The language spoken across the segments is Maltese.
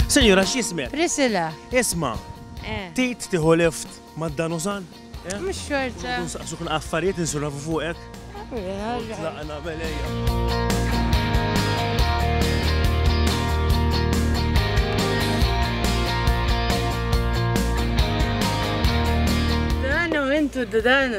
Senjura, x'jismek? Priscilla. Isma, eh. tit tiħu lift ma' dan użan? Eh? Mux xorta. Nsaqsu kun affarijiet insurafu fuqek. Tlaqna belejja. Dan u intu dan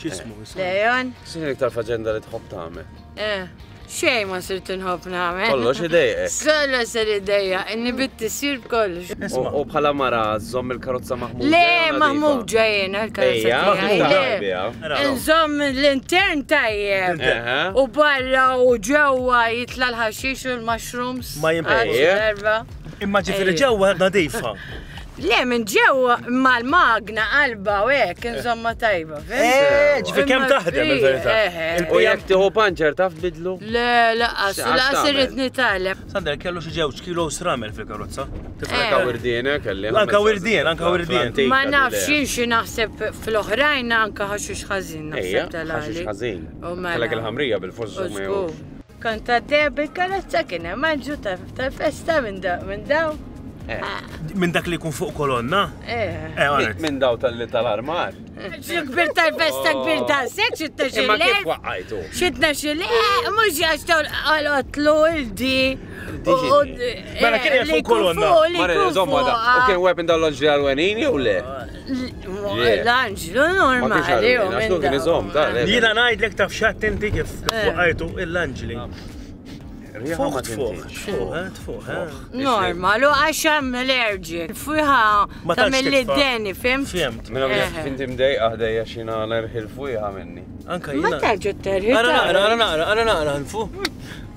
X'ismu? Leon? X'inhi iktar faġenda li tħobb tagħmel? Eh, xej ma sir tinħobb nagħmel. Kollox idejqek. Solo ser idejja, inni bitti sir kollox. U bħala mara żomm il-karozza maħmuġa. Le, maħmuġa jena l-karozza. Maħmuġa. Nżomm l-intern tajjeb. U barra u ġewwa jitla l-ħaxix u l-mushrooms. Ma jimpejja. Imma ġifiri ġewwa nadifa. Le, minn ġew mal-magna qalba u hekk, insomma tajba, fim? Eh, ġifi kemm taħdem il-verità. Eh, eh, eh. U jekk tieħu panċer taf bidlu? Le, laqas, laqas irrid nitgħallem. Sander kellu xi ġewġ kilo sramel fil-karozza. Anka wirdien, kelli. Anka wirdien, anka wirdien. Ma nafx xi naħseb fl-oħrajn anka ħaxux ħażin naħseb tal-għali. Ħażin. Kellek il-ħamrija bil-fost Kont għaddejja bil-karozza kien hemm għalġu tal-festa minn daw. Eh. Minn dak li jkun fuq kolonna? Eh. eh minn daw tal-li tal-armar? Xi kbir tal-festa oh. kbir ta' sex, xitna xi le? Kif waqqajtu? Xitna xi le, eh, mhux għax tal-qotlu il-di. Mela kien hemm fuq kolonna. Mara, żomma da. U kien weapon dal-loġġi għal-wenin jew le? L-anġlu normali. L-anġlu kien iżom, ta' le. Jina najdlek taf xat inti kif fuqajtu eh. l-anġli. Fuq, fuq, fuq, eh, fuq. Eh. Normal, u għaxam l-erġik, fuħa ta' mill-deni, fim? Fimt. Minna minn finti mdejqa ħdejja xina nerħil fuħa minni. Anka jina. Ma terġu terħil. Għara naqra, għara naqra, għara naqra, nfu.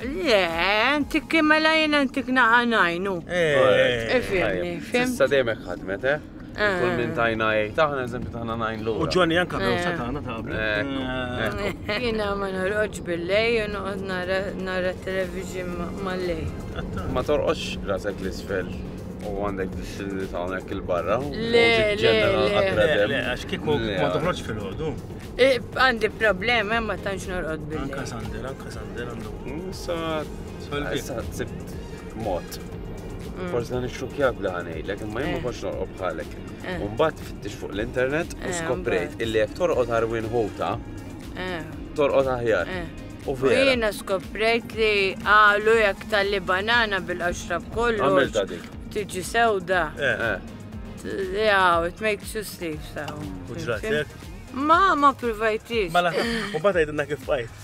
Le, inti kim mela jien intik naqa najn, u. Ifimni, fim. Issa dejmek ħadmet, eh? Kull minn tajna jgħid taħna eżempju taħna najn l U ġoni anka kawsa taħna taħna. Jina ma norqodx bil-lej u noqgħod nara television mal-lej. Ma torqodx rasek l-isfel u għandek distilli taħnek il-barra. Le, le, le, għax kiku ma toħroġ fil-ħodu. Għandi problemi ma tantx norqod bil-lej. Anka sandera. Sa sa sibt mod. Mm. Forse dan ix-xukjak bla ħanejlek, imma jien ma kontx eh. norqob bħalek. Eh. Umbat fittix fuq l-internet u eh, skoprejt illi jek torqod Arwin Hota, torqod aħjar. U vera. Jiena skoprejt li għalu jek tal-li banana bil-qaxrab kollu. Għamil ta' dik. Tiġi sewda. Jaw, it makes you sleep, saw. Uġratek? Ma, ma provajtix. Mela, u bata jidna kif bajt.